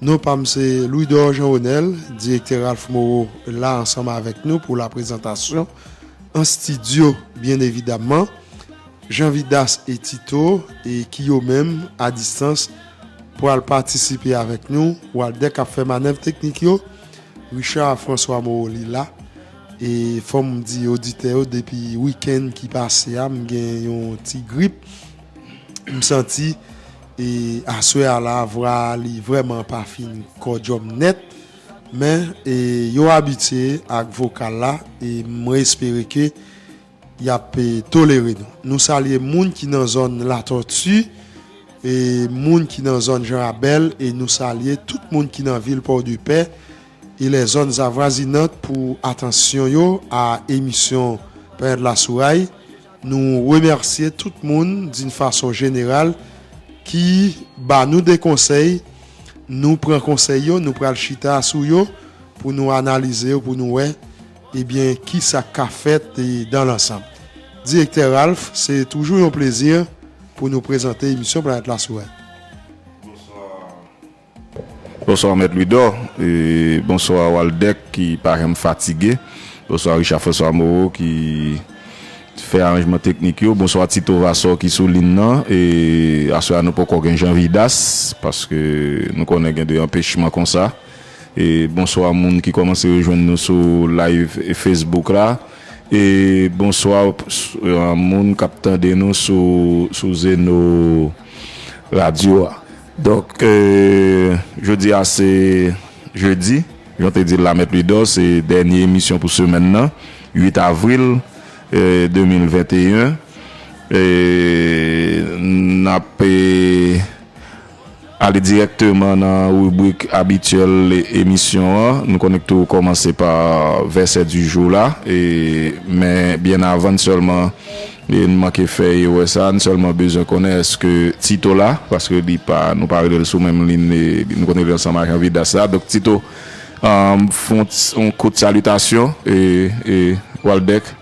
Non pa m se Louidor Jean Onel, direktè Ralph Moreau la ansanm avèk nou pou laprezantasyon an stidyo byen evidaman, Jean Vidas e Tito e ki yo menm a distans pral patisipe avèk nou, Walder k ap fè manèv teknik yo, Richard François Moreau li la e fò m di oditè yo depi wikenn ki pase a m gen yon ti grip m santi. E aswè a la vwa li vrèman pa fin kòdyòm nèt men e yo abitye ak vokal la e mwen espere ke yap tolere nou. Nou salye moun ki nan zòn Latòti e moun ki nan zòn Jan Rabèl e nou salye tout moun ki nan vil Pòdepè e lè zòn zavwazinant pou atansyon yo a emisyon Panyòt Lasouray Nou remèsye tout moun din fason jeneral ki ba nou de konsèy, nou pran konsèy yo, nou pral chita sou yo pou nou analize yo pou nou wè ebyen ki sa k ka fèt dan lansanm. Direktè Ralph, se toujou yon plezi pou nou prezante emisyon Planèt Lasourèt. Bonswa. Bonswa mèt Louidor e bonswa Waldeck ki pa janm fatige, bonswa Richard François Moreau ki fè aranjman teknik yo, bonswa Tito Vassor ki sou lin nan e aswè a nou poko gen Jean Vidas paske nou konnen gen de anpechman konsa e bonswa moun ki komanse rejwenn nou sou live Facebook la e bonswa moun kap tande nou sou Zeno radio a. Donk, jodi a se jedi, jan w te di l la Mèt Louidor, se dènye emisyon pou semèn nan, 8 avril 2021. N ap ale dirèkteman nan ribrik abityèl emisyon an. Nou konnen k toujou kòmanse pa vèsè di jou la, men byen avan n sèlman. N manke fè erè sa, n sèlman bezwen konnen èske Tito la, paske li pa, nou pa rele l sou menm lin, nou konn rele l ansanm ak Anvidas la. Donk Tito, fè yon ti, yon kout salitasyon, e Waldèk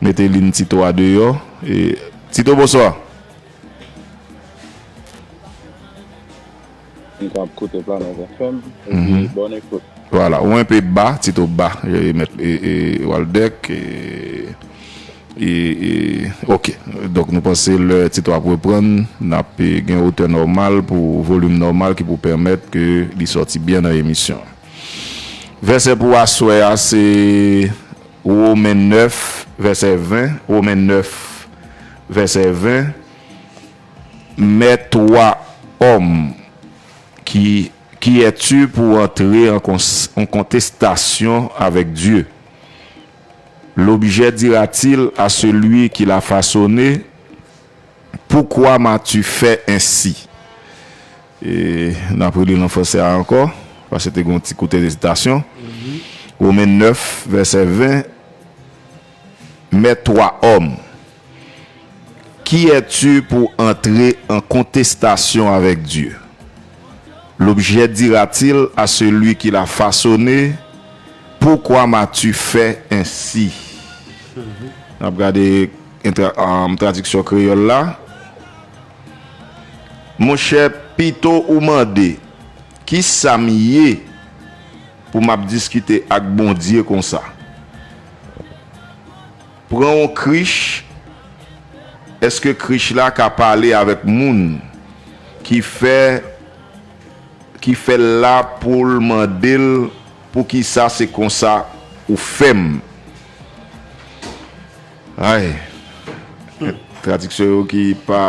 mete lin Tito a deyò. Tito, bonswa! M konn ap koute planet FM epi bon ekout. Voilà ou enpe ba tito ba mèt Waldeck ok donk nou panse lè tito ap reprann nap gen otè nòmal pou volim nòmal ki pou pèmèt ke li sòti byen nan emisyon an vèsè pou aswè a se Women 9 vèsè 20 Women 9 vèsè 20. Mèt wa òm, ki ki è tu pou antre an an kontestasyon avèk Dye? Lobjè dira-t-il a selui ki l'a fasone, Poukwa m'as-tu fè ensi? E n'ap reli l an franse a ankò, paske te gen yon ti kout ezitasyon. Women 9, vèsè 20. Mè twa òm, Kiyè tu pou antre an kontestasyon avèk Dye? L'objet dira-t-il à celui qui l'a façonné, Pourquoi m'as-tu fait ainsi? N ap gade Tradiksyon kreyòl la. Monchè, pito ou mande, Ki sa m ye? Pou map diskite ak bondye konsa. Pran yon krich eske krich la ka pale avek moun ki fè ki fèl la poul mandel poukisa se konsa ou fèm. Ay! Tradiksyon yo ki pa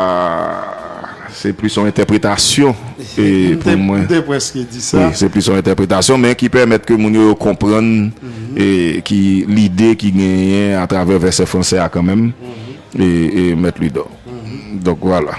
se plis yon entèpretasyon pou mwen. M te preske di sa. Se plis yon entèpretasyon men ki pèmèt ke moun yo konprann ki lide ki genyen atravè vèsè franse a kanmenm. Mèt Louidor. Donk wala.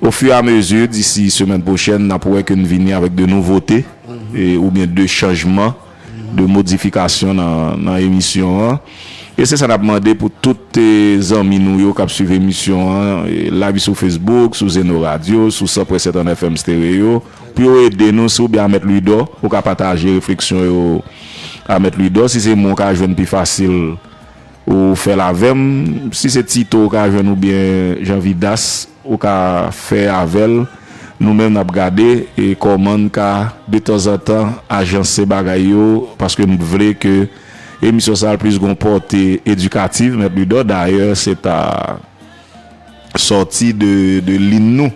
O fur et à mesure, d'ici semaine prochaine, nap wè ke n vini avèk de nouvote oubyen de chanjman, de modifikasyon nan emisyon an. E se sa nap mande pou tout zanmi nou yo kap swiv emisyon an live sou Facebook, sou Zeno Radio, sou 100.7 an FM Stereo, pou yo ede nou. Si ou byen a Mèt Louidò, ou ka pataje refleksyon yo a Mèt Louidò. Si se mwen ou ka jwenn pi fasil. Ou fèl avèm si se tito ou ka jwenn ou byen jan vidas ou ka fè avèl nou menm nap gade kòmann ka detanzantan ajanse bagay yo paske m t vle ke emisyon sa plis gon pòte edikativ mèt Ludò dayè se ta sòti de lin nou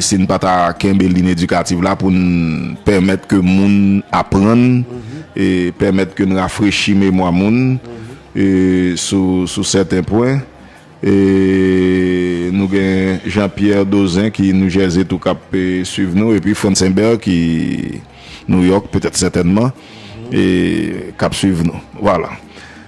si n pa ta kenbe lin edikativ la pou n pèmèt ke moun aprann e pèmèt ke n rafrechi memwa moun sou sèten pwen e nou gen Jean Pierre Dauzin ki New Jersey tou k ap swiv nou epi Frantz Imbert ki New York petèt sètènman e k ap swiv nou. Vwala.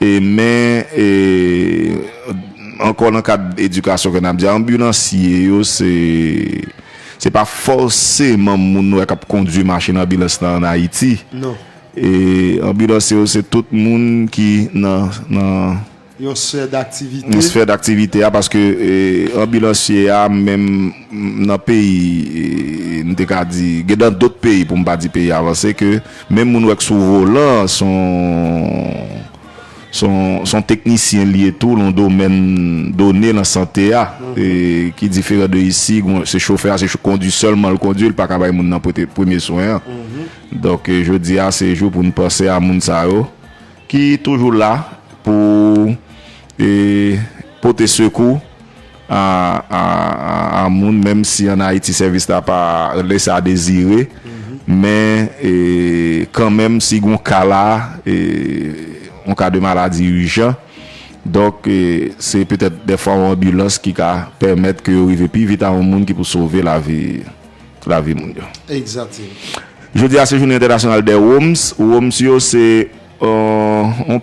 Men, ankò nan kad edikasyon ke n ap di a, anbilansye yo se pa fòseman moun nou wè k ap kondui machin anbilans nan an Ayiti. Anbilansye yo se tout moun ki nan. Yon sfè daktivite. Yon sfè daktivite a paske anbilansye a menm nan peyi, m te ka di, gen nan dòt peyi pou m pa di peyi avanse ke. Menm moun wè k sou volan an son son teknisyen li ye tou lon domèn done lan sante a ki diferan de isi se chofè a se kondi sèlman l kondi l pa ka bay moun nan pwete premye swen an donk jodi a se jou pou n panse a moun sa yo ki toujou la pou pote sekou. an moun menm si an Ayiti sèvis la pa lese a dezire men kan menm si gon ka la yon ka de maladi ijan donk se petèt defwa yon anbilans ki ka pèmèt ke yo rive pi vit a yon moun ki pou sove lavi lavi moun yo. Jodi a se jounen entènasyonal dè Roms Roms yo se yon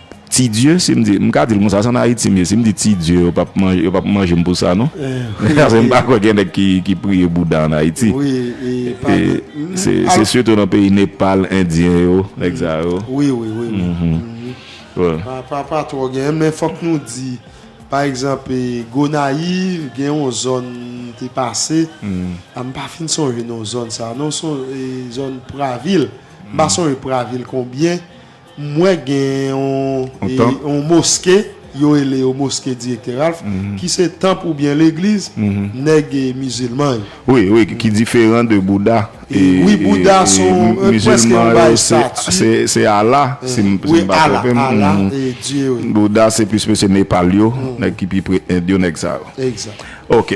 Ti Dieu si m di, m ka di l konsa, se an Ayiti m ye, si m di Ti Dieu yo pap manje, yo pap manje m pou sa non. Paske m pa kwè gen nèg ki priye Bouda an Ayiti. Se sitou nan peyi Nepal, Endyen yo, nèg sa yo. Wi, wi, wi, wi. Pa twò gen, men fòk nou di, pa egzanp, Gonayiv gen yon zòn m te pase, a m pa fin sonje non zòn sa non, se yon zòn Pravil, m pa sonje Pravil konbyen. Mwen gen yon moske, yo rele yo moske Direktè Ralph, ki se tanp oubyen legliz nèg mizilman yo. Wi, wi, ki diferan de Bouda. Wi, Bouda se prèske yon bagay stati. Se Allah, si m pa twonpe m. Wi, Allah, Allah e Dye, wi. Bouda se plis mesye Nepal yo, nèg ki pi pre End yo, nèg sa yo. Egzat. Ok.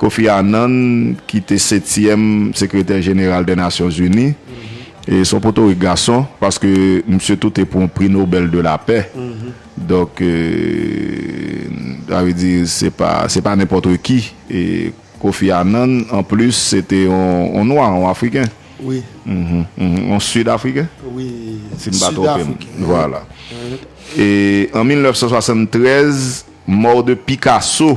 Kofi Annan ki te setyèm sekretè jeneral dè Nasyon Zini, e son potorik gason, paske misye tou te pran pri Nobèl de la pè, donk sa vle di se pa se pa nenpòt ki Kofi Annan, an plis se te yon nwa, yon afriken, yon sid afriken? si m pa twonpe m, vwala. E an 1973, mò de Pikaso.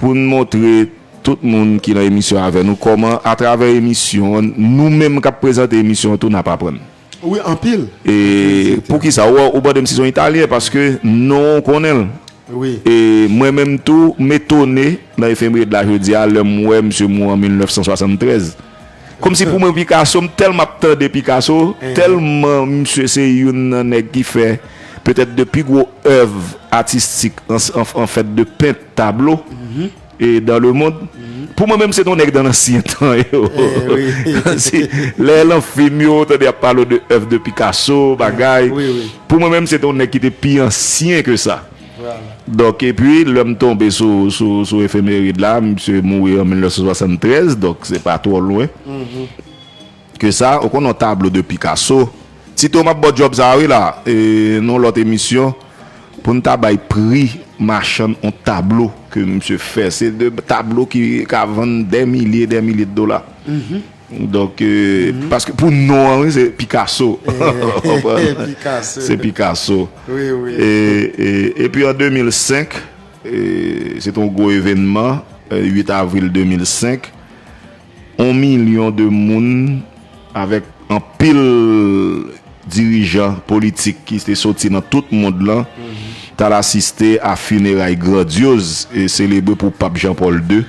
Pou n montre tout moun ki nan emisyon an avè nou kòman atravè emisyon an, nou menm k ap prezante emisyon an tou n ap aprann. Wi, anpil. E poukisa? Ou mande m si se yon Italyen paske non an ou konnen l. E mwen menm tou, m etone nan efemeri de la jodi a lè m wè msye mouri an 1973. Komsi pou mwen Picasso m telman ap tande Picasso telman misye se youn nan nèg ki fè petèt 2 pi gwo èv atistik an fèt de pent tablo e dan le mond pou mwen menm se ton nèg dan ansyen tan yo si lè lan fim yo tande ap pale w de èv de Picasso bagay pou mwen menm se ton nèg ki te pi ansyen ke sa. Donk epi lè m tonbe sou efemerid la, misye mouri an 1973, donk se pa twò lwen ke sa. Ou konn yon tablo de Picasso? Tito m ap ba w djòb sa a wi la e nan yon lòt emisyon pou n ta bay pri machann yon tablo ke misye fè. Se de tablo ki ka vann dè milye, dè milye de dola. Donk paske pou non an wi se Picasso Se Picasso Epi an 2005 se te yon gwo evenman 8 avril 2005 On milyon de moun avèk anpil dirijan politik ki te soti nan tout mond lan t al asiste a fineray grandyoz e selebre pou Pap Jean Paul ii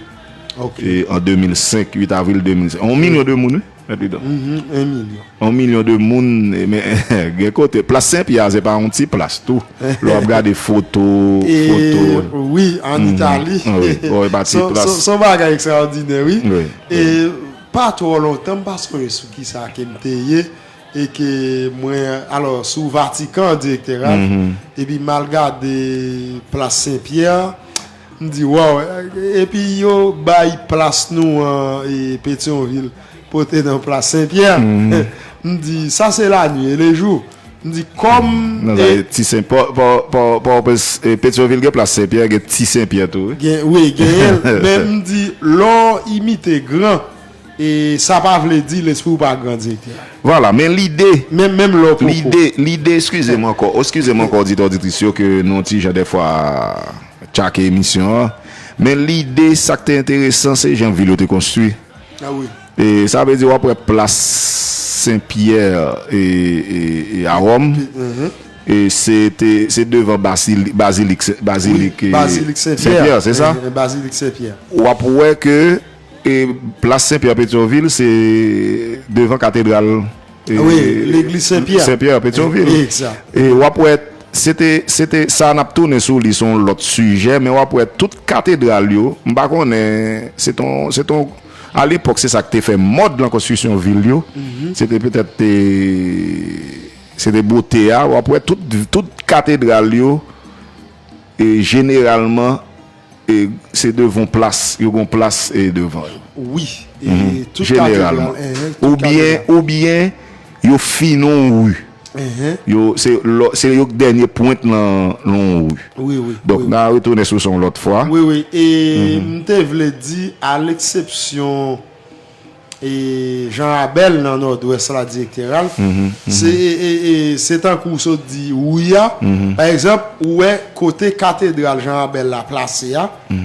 E an 2005, 8 avril 2005. On milyon de moun, wi, mèt Widon. Mh, on milyon. On milyon de moun, men, gen kote. Plas Sen Pyè a, se pa on ti plas tou. Lè w ap gade foto, foto. E, wi, an Itali. Wi, o, e pa ti plas. Son bagay ekstraòdinè, wi. Wi. E, pa twò lontan, m pa sonje sou ki sa ke m te ye, e ke mwen, alò, sou Vatikan direktè a, epi m al gade Plas Sen Pyè a. M di waw epi yo bay plas nou an petion vil pote nan plas sen pyè m di sa se la nwi e le jou m di kom petion vil gen plas sen pyè gen ti sen pyè tou wi gen wi gen men m di lò imite gran E sa pa vle di lespri w pa gran Direktè. Vwala, men lide, lide, lide, eskize m ankò, eskize m ankò oditè oditris yo ke nou yon ti jan dèfwa tchake emisyon an, men lide sa k te enteresan se jan vil yo te konstwi. A wi. E sa vle di w ap wè plas Sen Pyè e, e, e a Wòm, e se te, se devan basili, bazilik, bazilik, e, Sen Pyè, se sa? Bazilik Sen Pyè. W ap wè ke. Plas Senpyè Petyonvil se devan katedral Senpyè Petyonvil e w ap wè se te sa n ap tounen sou li se yon lòt sijè men w ap wè tout katedral yo m pa konnen se ton a lepòk se sa ki te fè mòd lan konstrisyon vil yo se te petèt te se te bote a w ap wè tout katedral yo e jeneralman E se devan plas, yo gon plas e devan yo. Wi, e tout kate devan. Jeneralman. Ou byen, ou byen yo fin on ri. Yo, se lò, se yo k dènye pwent nan on ri. Wi, wi. Donk nan retounen sou sa on lòt fwa. Wi, wi. E m te vle di a leksepsyon. E Jean Rabel nan Nòdwès la direktè Ralph se se tankou w sot di Rouy a pa egzanp ou wè kote katedral Jean Rabel la plase a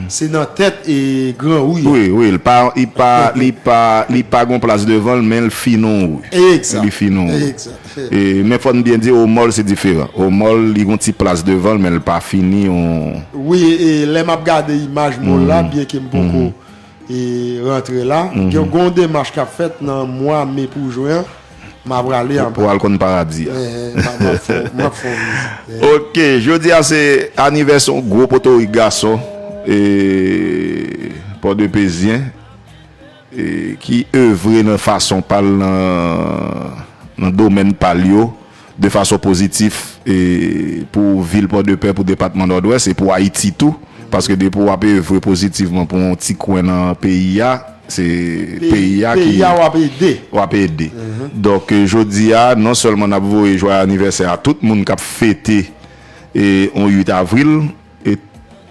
se nan tèt gran Rouy a. Wi, wi, l pa li pa li pa li pa gon plas devan l men l fin on ri. Egzat, li fin on ri. Egzat. Men fò n byen di Omò l se diferan. Omò l li gon ti plas devan l men l pa fini on. Wi e lè m ap gade imaj mò l la byenke m poko e rantre la gen yon demach kap fèt nan mwa me pou jwen an ma prale anba pou al konn paradi a map fè yon vizit ok jodi a se anivès yon gwo potorik gason e pò de pezyen e ki evre nan fason pal nan nan domèn pal yo de fason pozitif pou vil Pòdepè, pou depatman Nòdwès e pou Ayiti tou, paske depi w ap evre pozitivman pou yon ti kwen nan peyi a, se peyi a ki w ap ede. Donk jodi a, non sèlman n ap voye jwaye anivèsè a tout moun k ap fete yon 8 avril,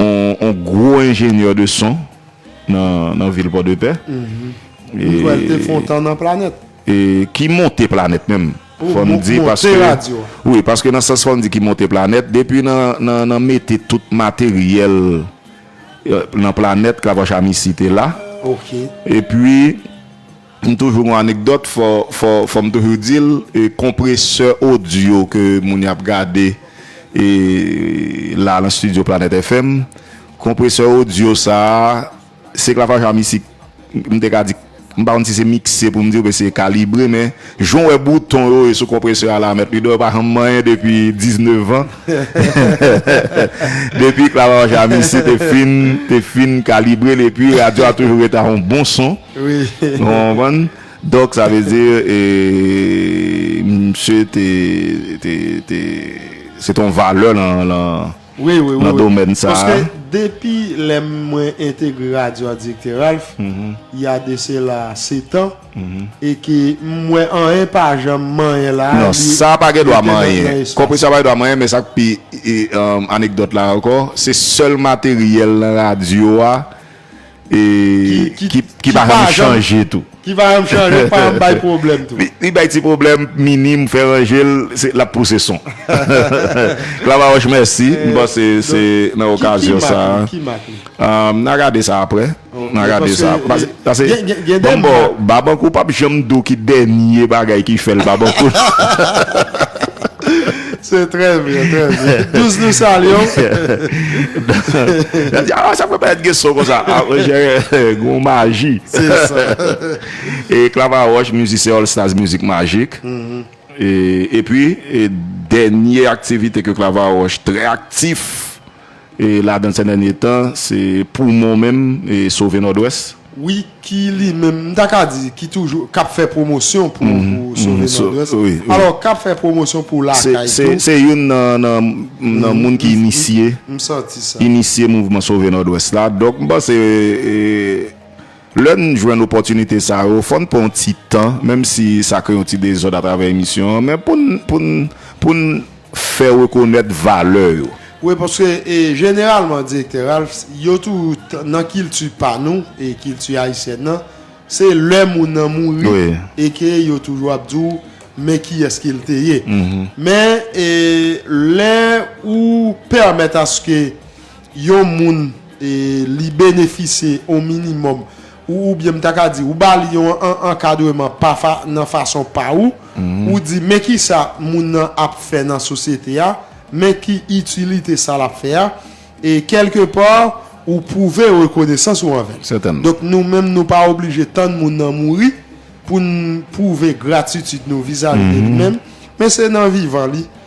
On gwo enjenyè de son nan vil Pòdepè. M kwè l te fè on tan nan Planèt. Ki monte Planèt menm. Fò m di paske. Monte radyo. Wi, paske nan sans fò m di ki monte Planèt. Depi nan mete tout materyèl nan Planèt, Clavroche Amicy te la. Ok. E pi. M toujou gon anekdòt fò fò fò m toujou di l e konpresè odyo ke moun y ap gade e la nan stidyo Planet FM konpresè odyo sa a se klafaj a misik m te ka di m pa konn si se mikse pou m di oubyen se kalibre men jan w wè bouton yo e sou konpresè a la Mèt Ludo yo pa janm manyen depi diznevan depi klafaj a misik te fin te fin kalibre l epi radyo a toujou rete a yon bon son. Nou konprann? Donk sa vle di misye te se te yon valè nan domèn sa. Paske depi lè mwen entegre radyo a Direktè Ralph, il y a de cela sept ans, e ke m wè anyen pa janm manyen la. Non, sa pa gen dwa manyen. Konpresè a pa gen dwa manyen, men sa k pi anekdòt la ankò, se sèl materyèl nan radyo a. Ki pa janm chanje tou. Ki pa janm chanje, ki pa janm bay pwoblèm tou. Li bay ti pwoblèm minim, fè ranje l, l ap pouse son. Clavaroche mèsi, m panse se nan okazyon sa a. Ki mak li? N a gade sa aprè. N a gade sa. Pase banm ba w, Babankou pa p janm di w ki dènye bagay ki fè l Babankou. Se trè byen, trè byen. Douz nou salye w. Yo di, a, sa fè pa et gen son konsa. A, mwen jè, gen yon maji. Se sa. E Clava Roche, mizisyen All Stars Mizik Majik. E pi, dènye aktivite ke Clava Roche trè aktif. E ladan sè dènye tan se poumon menm e sove nòdwès. Wi ki li menm m ta ka di ki toujou k ap fè pwomosyon pou sove nòdwès alò k ap fè pwomosyon pou lakay tou. Se youn nan moun ki inisye inisye mouvman sove nòdwès la donk m panse Lè n jwenn opòtinite sa yo, fò n pran yon ti tan, menm si sa kreye yon ti dezòd atravè emisyon an, men pou n, pou n, pou n fè rekonèt valè yo. Wi, paske jeneralman, Direktè Ralphs, yo tou, nan kilti pa nou, kilti ayisyèn nan, se lè moun nan mouri e ke yo toujou ap di w, men kiyès ke l te ye. Men, lè ou pèmèt aske. yon moun li benefisye yon minimòm ou oubyen m ta ka di ou ba li yon ankadreman pa nan fason pa ou, ou di men kisa moun nan ap fè nan sosyete a, men ki itilite sa l ap fè a, e kèlke pa ou pwouve rekonesans ou anvè l. Donk nou menm nou pa oblije tann moun nan mouri pou n pwouve gratitid nou vizavi de li menm, men se nan vivan li.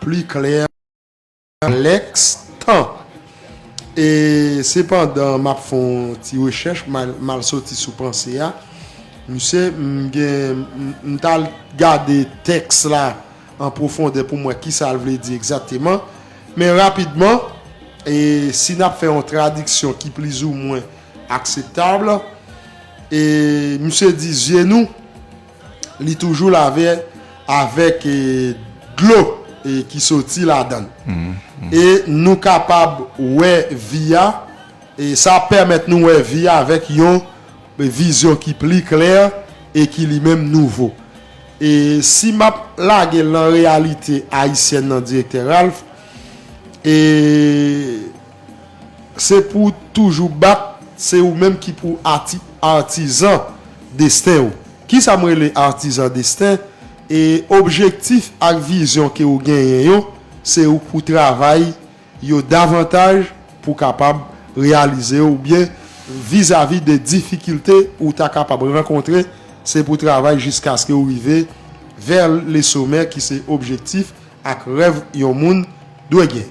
Pli klè nan lèks tan. E se pandan map fè yon ti rechèch mal soti sou panse a. Misye m gen m tal gade tèks la an pwofondè pou m wè kisa l vle di egzateman. Men rapidman e si nap fè yon tradiksyon ki plizoumwen akseptab e misye di zye nou. Li toujou lave avèk dlo ki soti ladan l. E nou kapab wè vi a, e sa ap pèmèt nou wè vi a avèk yon vizyon ki pli klè e ki li menm nouvo. E si m ap lage l nan reyalite ayisyèn nan Direktè Ralph, e. se pou w toujou bat se ou menm ki pou artisan desten ou kisa m rele artisan desten e objektif ak vizyon ke ou genyen yo se ou pou travay yo davantaj pou kapab reyalize yo oubyen vizavi de difikilte ou ta kapab rankontre se pou travay jiskaske ou rive vers le sommet ki se objektif ak rèv yon moun dwe gen.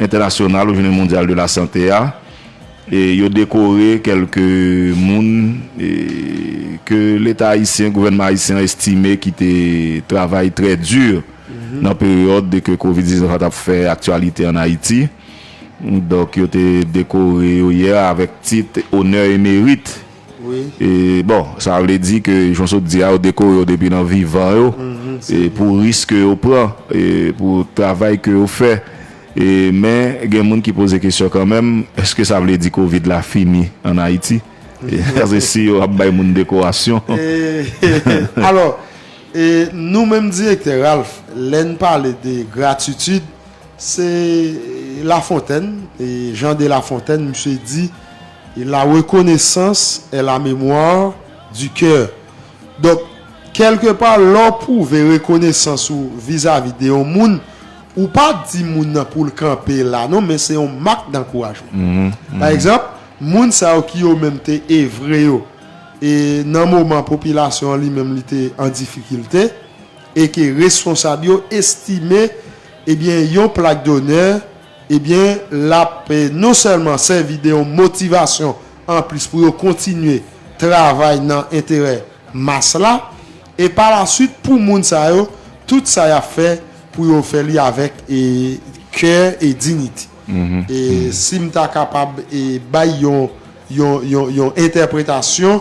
entènasyonal ou jounen mondyal de la sante a e yo dekore kelke moun ke leta ayisyen gouvènman ayisyen estime ki te travay trè di nan peryòd de ke covid 19 la tap fè aktyalite an ayiti donk yo te dekore yo yè avèk tit onè e merit. Bon, sa vle di ke jan w sot di a, yo dekore yo depi nan vivan yo pou risk ke yo pran, pou travay ke yo fè. Men, gen moun ki poze kesyon kanmenm, èske sa vle di kovid la fini an Ayiti? Paske si yo ap bay moun dekorasyon. Alò, nou menm direktè Ralph, lè n pale de gratitid, se Lafontèn, Jean de Lafontaine, misye di, Et la reconnaissance est la mémoire du cœur Donk, kèlke pa lè w pwouve rekonesans ou vizavi de yon moun, ou pa di moun nan pou l kanpe la non men se yon mak dankourajman. Pa egzanp, moun sa yo ki yo menm te evre yo e nan moman popilasyon an li menm li te an difikilte e ke responsab yo estime ebyen yon plak donè Ebyen lap non sèlman sèvi de yon motivasyon anplis pou yo kontinye travay nan enterè mas la, e pa la swit pou moun sa yo tout sa yap fè pou yo fè li avèk kè e dinite. E sim ta kapab bay yon yon entèpretasyon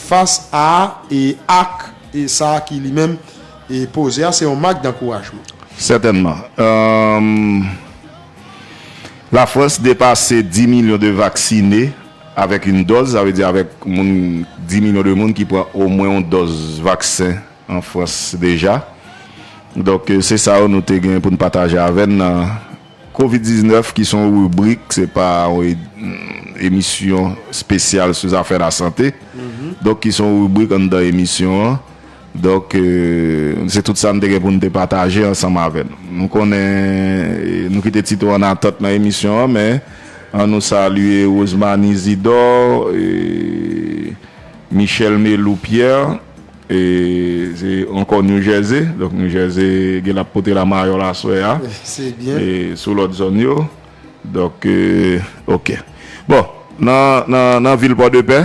fas a e ak sa ki li menm E poze a se yon mak dankourajman. Sètènman. Lafrans depase 10 milyon de vaksine avèk yon dòz, sa vle di avèk moun 10 milyon de moun ki pran omwen yon dòz vaksen an Frans deja. Donk se sa yo nou te gen pou n pataje avè n nan Kovid 19 ki se yon ribrik, se pa yon emisyon spesyal sou zafè lasante. Donk ki se yon ribrik anndan emisyon an. Donk, se tout sa n te gen pou n te pataje ansanm avè nou. Nou konnen nou kite ti tou ann atant nan emisyon an, men an nou salye Rosemanie Isidor, Michelle Melou Pierre, se ankò New Jersey, donk New Jersey gen l ap pote la mayòl aswè a, sou lòt zòn yo. Donk, ok. Bon, nan vil Pòdepè.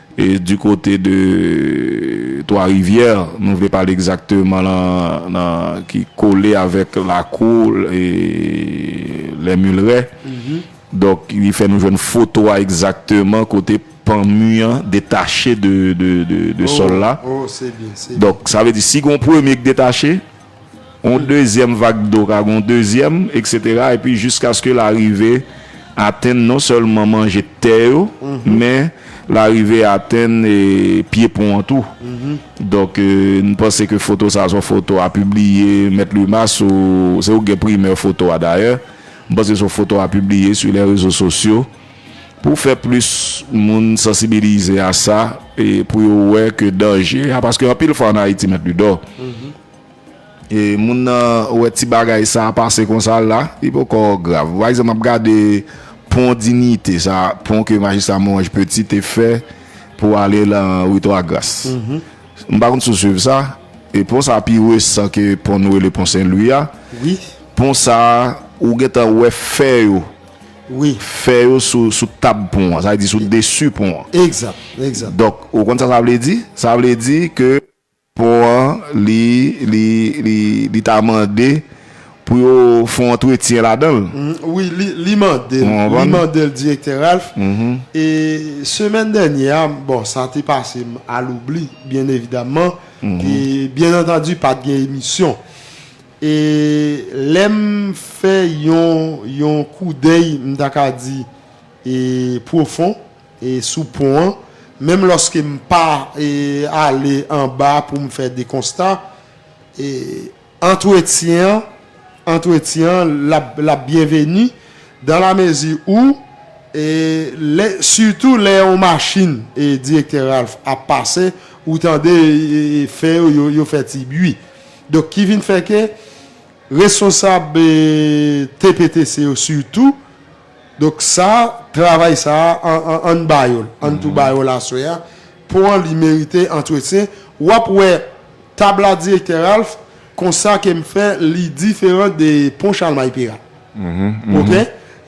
E du kote de Twa Rivyè, nou vle pale egzakteman nan ki kole avèk lakou lè Milrè. Donk li fè nou jwenn foto a egzakteman kote pan mi an detache de sòl la. Donk sa vle di si gon premye ki detache, yon dezyèm vag dlo ka gen yon dezyèm, eksetera, epi jiskaske l arive atenn non sèlman manje tè yo, men l arive atenn pye pon an tou. Donk, m panse ke foto sa a se yon foto a pibliye, Mèt Luma, sou, se ou ki gen primè foto a dayè, m panse se yon foto a pibliye sou lè rezo sosyo. Pou fè plis moun sansibilize a sa e pou yo wè ke danje a, paske anpil fwa an Ayiti mèt Ludò, e moun nan wè ti bagay sa pase konsa la, li poko grav. Pa egzanp, m ap gade pon Dinite sa, pon ke Majistra Morange Petit te fè pou ale lan Rue Twa Gras. M pa konn si w swiv sa, e pon sa pi resan ke pon nou rele pon Sen Lwi a. Pon sa, ou gentan wè fè yo. Wi. Fè yo sou sou tab pon an. Sa vle di sou desu pon an. Egzat. Egzat. Donk, ou konn sa sa vle di? Sa vle di ke pon an li, li, li, li ta mande pou yo fè yon antretyen ladan l. Wi, li, li mande l. Ou konprann? Li mande l, Direktè Ralph. E semèn dènyè a, bon, sa te pase m a loubli, byen evidamman. E byen antandi pa t gen emisyon. E lè m fè yon yon koudèy m ta ka di e pwofon e sou pon an, menm lòske m pa e ale anba pou m fè de konsta, e antretyen an antretyen an l ap l ap byenveni dan la mezi ou e lè sitou lè yon machin e Direktè Ralph ap pase ou tande e fè yo yo fè ti bui. Donk ki vin fè ke responsab TPTC yo sitou, donk sa travay sa ann ba yo l, ann tou ba yo l aswè a, pon an li merite antretyen, w ap wè tab la Direktè Ralph konsa ke m fè li diferan de pon Chalmay Peral ok,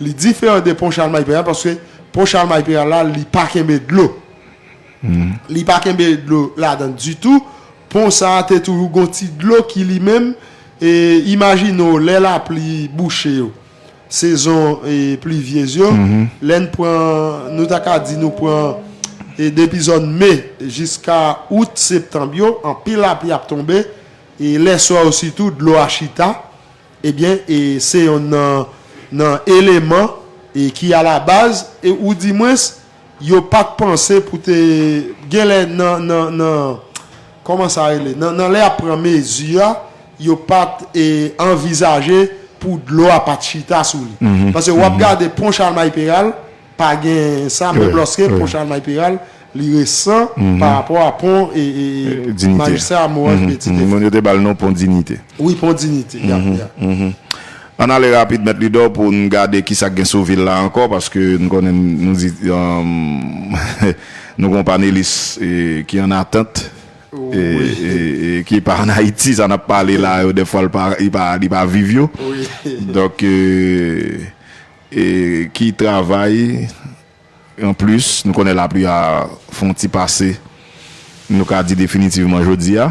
li diferan de pon Chalmay Peral paske pon Chalmay Peral la li pa kenbe dlo, li pa kenbe dlo ladan ditou. Pon sa a te toujou gon ti dlo ki li menm e imajine w lè lapli bouche yo, sezon plivyez yo, lè n pran, nou ta ka di nou pran depi zòn me jiska out, septanb yo, anpil lapli ap tonbe e lè swa yo sitou dlo a chita, ebyen se yonn nan eleman ki alabaz e oudimwens. Yo pat panse pou te genlè nan kòman sa rele nan lè yap pran mezi a yo pat anvizaje pou dlo a pat chita sou li pase wap gade pon chalmay peral pa gen sa menm lòske pon chalmay peral li resan pa rapò a pon majistra moranj peti te fè wi pon dinite Ann ale rapid mèt Lidò pou n gade ki sa k gen sou vil la ankò paske n konnen nou di nou gen yon panelis ki ann atant e ki pa ann Ayiti sa n ap pale la yo dèfwa li pa viv yo donk ki travay Anplis, nou konnen lapli a fon ti pase, nou ka di definitivman jodi a.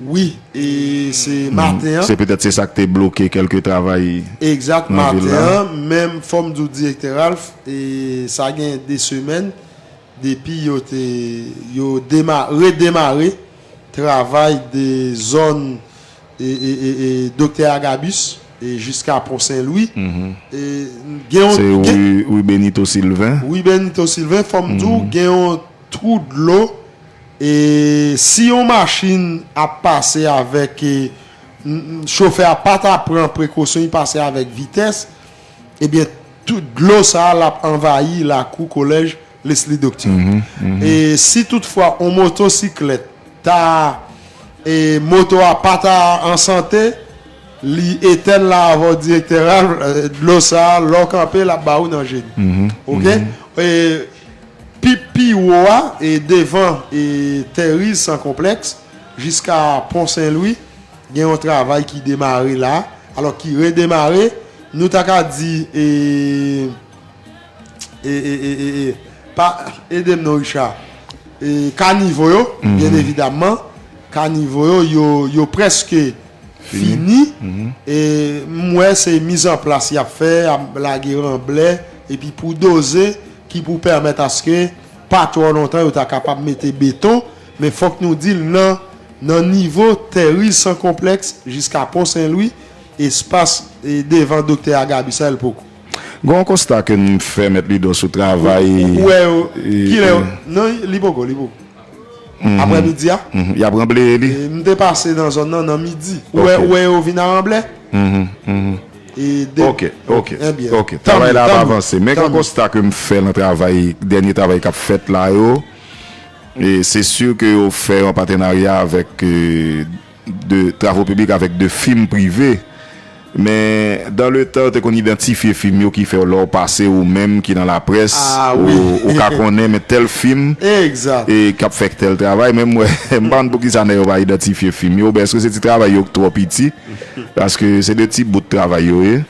Wi, e se maten an. Se petèt se sa k te bloke kèlke travay nan vil la. Egzat, maten an, menm fò m di w Direktè Ralph, e sa gen 2 semèn depi yo te, yo dema, redemare travay de zòn Doktè Agabus e jiska Pon Sen Lwi e gen yon. Se rue Benito Sylvain. Rue Benito Sylvain fò m di w gen yon twou dlo e si yon machin ap pase avèk chofè a pa ta pran prekosyon li pase avèk vitès ebyen dlo sa l ap anvayi lakou kolèj. Lesly Docteur e si tout fwa on moto siklèt ta e moto a pa ta an sante li etèn la avè w direktè Ralph dlo sa lè w kanpe lap ba ou nan je n ok e pi pi wo a e devan e Terry's san konplèks jiska pon sen lwi gen yon travay ki demare la alò ki redemare nou ta ka di e. e e e e e pa edem non Richard e kanivo yo byen evidamman kanivo yo yo yo preske fini e m wè se mizanplas y ap fè y ap lage ranblè epi pou doze ki pou pèmèt aske pa twò lontan yo ta kapab mete beton men fòk nou di l nan nan nivo tè riz san konplèks jiska pon senlwi espas e devan doktè agabi sa el poko. Gen yon konsta ke m fè mèt Lidò sou travay. Ou wè yo kilè yo. Non li poko li poko. Aprè midi a. Y ap ranbleye li. M te pase nan zòn nan nan midi. Ou wè ou wè yo vin a ranblè. E de. Ok ok enbyen. Ok travay la ap avanse. Men gen yon konsta ke m fè nan travay dènye travay k ap fèt la yo. E se si ke yo fè yon patenarya avèk. de travo piblik avèk de fim prive men dan le tan yo te konn idantifye fim yo ki fè w lè w pase ou menm ki nan laprès ou ka konnen men tèl fim k ap fè tèl travay men m wè m pa konn pou ki sa nèg yo pa idantifye fim yo oubyen èske se ti travay yo k twò piti paske se de ti bout travay yo ye.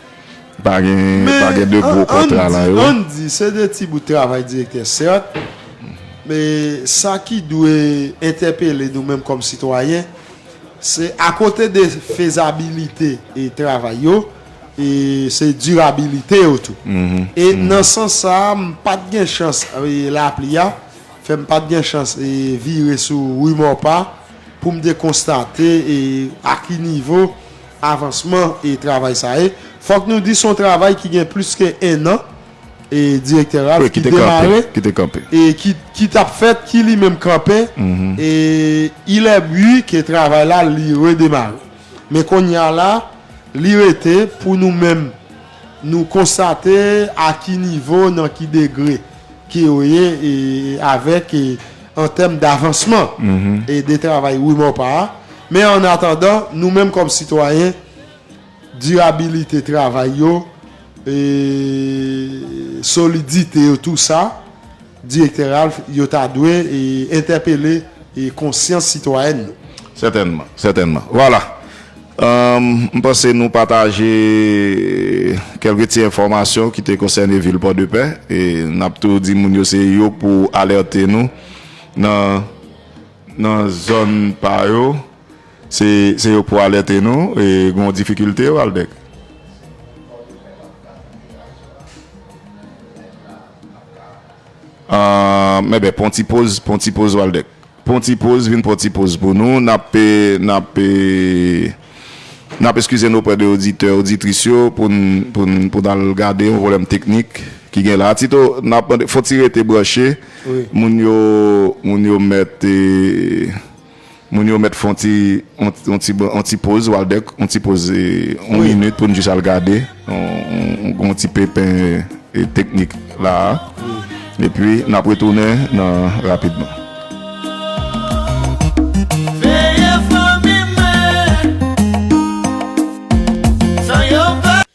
Pa gen de gwo kontra lan yo. Men ann di, se de ti bout travay direktè sèt, men sa ki dwe entèpele nou menm kòm sitwayen, se akote de fezabilite e travay yo, e se dirabilite yo tou. E nan sans sa a, m pa t gen chans, lapli a fè m pa t gen chans vire sou Ri Mòpa pou m te konstate a ki nivo avansman e travay sa e fòk nou di son travay ki gen plis ke 1 an e direktè ralph ki demare e ki tap fèt ki li menm kanpe e ilè ui ke travay la li redemare men konya la li rete pou nou menm Nou konstate a ki nivo, nan ki degre ke yo ye avèk an tèm davansman de travay Rue Maupas a. Men an atandan, nou menm kòm sitwayen, dirabilite travay yo, solidite yo, tou sa, Direktè Ralph, yo ta dwe entèpele konsyans sitwayèn nou. Sètènman, sètènman. Vwala. M panse nou pataje kèlke ti enfòmasyon ki te konsène vil Pòdepè. E n ap tou di moun yo se yo pou alète nou nan nan zòn pa yo. Se se yo pou alète nou e gon difikilte, Waldeck? Pòdepè pa t ka fè yon aksyon nan zòn nan. Moun ki te mèt la Aah mèbè pran yon ti poz pran yon ti poz Waldeck pran yon ti poz vin pran yon ti poz pou nou nap nap nap eskize nou oprè de oditè oditris yo pou n pou n pou n al gade yon pwoblèm teknik ki gen la Tito nap mande fòk ti rete branche moun yo moun yo mèt. Moun yo mèt fè yon ti yon ti yon ti poz Waldeck yon ti poz yon minit pou nou jis al gade yon ti pepen teknik la a epi n ap retounen nan rapidman.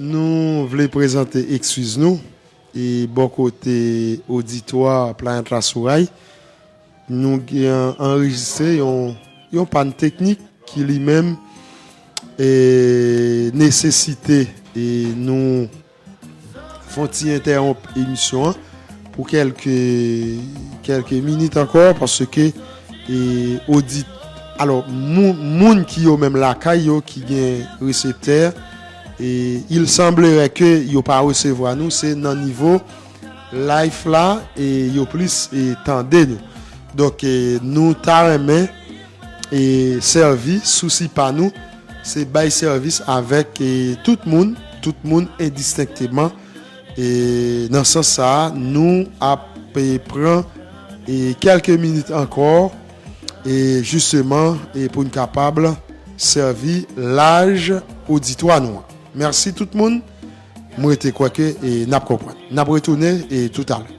Nou vle prezante ekskiz nou e bò kote oditwa Planet la sou ray. Nou gen anrejistre yon pàn teknik ki li menm nesesite nou fon ti entèwonp emisyon an pou kèlke minit ankò paske odit, alò moun ki yo menm lakay yo ki gen reseptè. Il semblerait que yo pa resevwa nou se nan nivo life la yo plis tande nou donk nou ta renmen sèvi sousi pa nou se bay sèvis avèk tout moun tout moun indistinctement nan sans sa nou ap pran quelques minutes ankò. E jisteman e pou n kapab sèvi laj oditwa nou an. Mèsi tout moun. M rete kwè ke e n ap konprann. N ap retounen e toutalè.